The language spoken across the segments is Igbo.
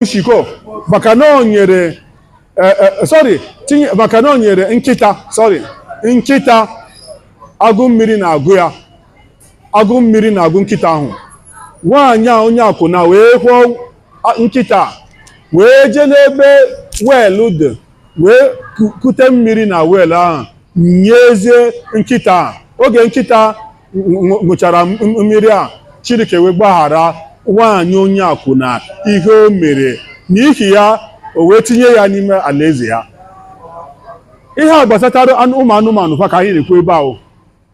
shiko maka na o nyere eh, eh, sorry tinye maka na o nyere nkịta sorry nkịta agụụ mmiri na-agụ ya agụụ mmiri na-agụ nkịta ahụ nwaanyị a onye akwụna wee kwụọ a- nkịta a, wee jee n'ebe well dị wee ku- kute mmiri na well ahụ nyezie nkịta a. oge nkịta ṅụchara mmiri a Chineke wee gbaghara nwaanyị onye akwụna ihe o mere n'ihi ya o wee tinye ya n'ime alaeze ya ihe a gbasatara ụmụ anụmanụ kwa ka anyị na-ekwu ebe ahụ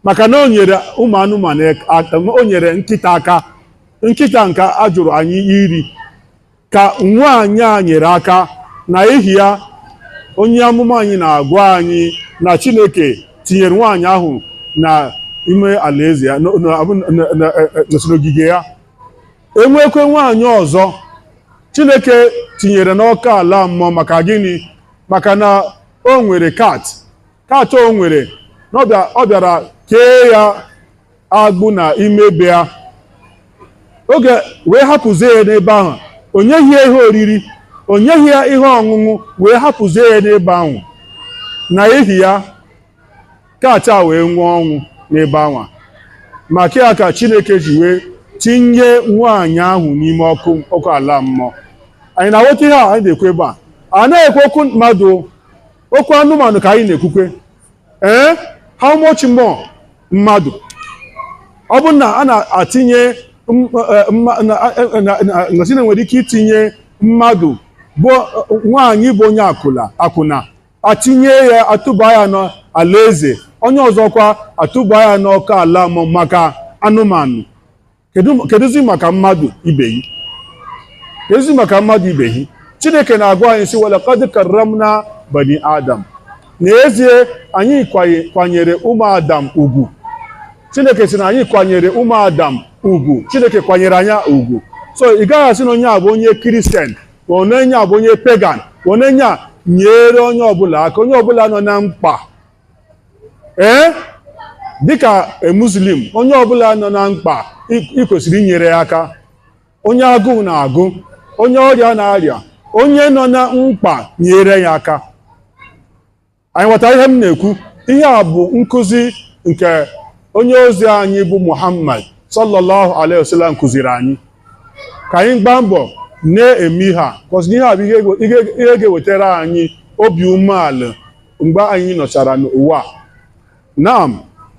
maka na o nyere ụmụ anụmanụ o nyere nkịta aka nkịta nke a jụrụ anyị iri ka nwaanyị a nyere aka na ihi ya onye amụma anyị na-agwa anyị na Chineke tinyere nwaanyị ahụ na ime alaeze ya n'ogige ya e nwekwe nwaanyị ọzọ Chineke tinyere n'ọkụ ala mmụọ maka gịnị maka na o nwere cat cat o nwere ọ bịara kee ya agbụ na ime be ya o wee hapụzie ya n'ebe ahụ o nyeghị ya ihe oriri o nyeghị ya ihe ọṅụṅụ wee hapụzie ya n'ebe ahụ na ihi ya cat a wee nwụọ ọnwụ n'ebe ahụ maka ya ka chineke ji wee tinye nwaanyị ahụ n'ime ọkụ ọkụ ala mmụọ anyị na-aghọta ihe a anyị na-ekwu ebe a a na-ekwu okwu mmadụ okwu anụmanụ ka anyị na-ekwukwe ee how much more mmadụ ọ bụrụ na a na-atinye na a sị na e nwere ike itinye mmadụ bụ nwaanyị bụ onye akwụna akwụna atinye ya atụba ya n'alaeze onye ọzọkwa atụba ya n'ọkụ ala mmụọ maka anụmanụ kedụzi maka mmadụ ibe yi kedụzi maka mmadụ ibe yi chineke na-agwa anyị sị wa laqad karramna bani adam n'ezie anyị kwanyere ụmụ adam ugwu chineke sị na anyị kwanyere ụmụ adam ugwu chineke kwanyere anyị ugwu so ị gaghị asị na onye a bụ onye Christian ma onye a bụ onye pagan onye a nyere onye ọbụla aka onye ọbụla nọ na mkpa ee dịka a Muslim onye ọbụla nọ na mkpa ị kwesịrị inyere ya aka onye agụụ na-agụ onye ọrịa na-arịa onye nọ na mkpa nyere ya aka anyị ghọta ihe m na-ekwu ihe a bụ nkụzi nke onye ozi anyị bụ Muhammad sallallahu alaihi wasallam kụziri anyị ka anyị gbaa mbọ na-eme ihe a cos ihe a bụ ihe ga-ewetara anyị obi umeala mgbe anyị nọchara n'ụwa naam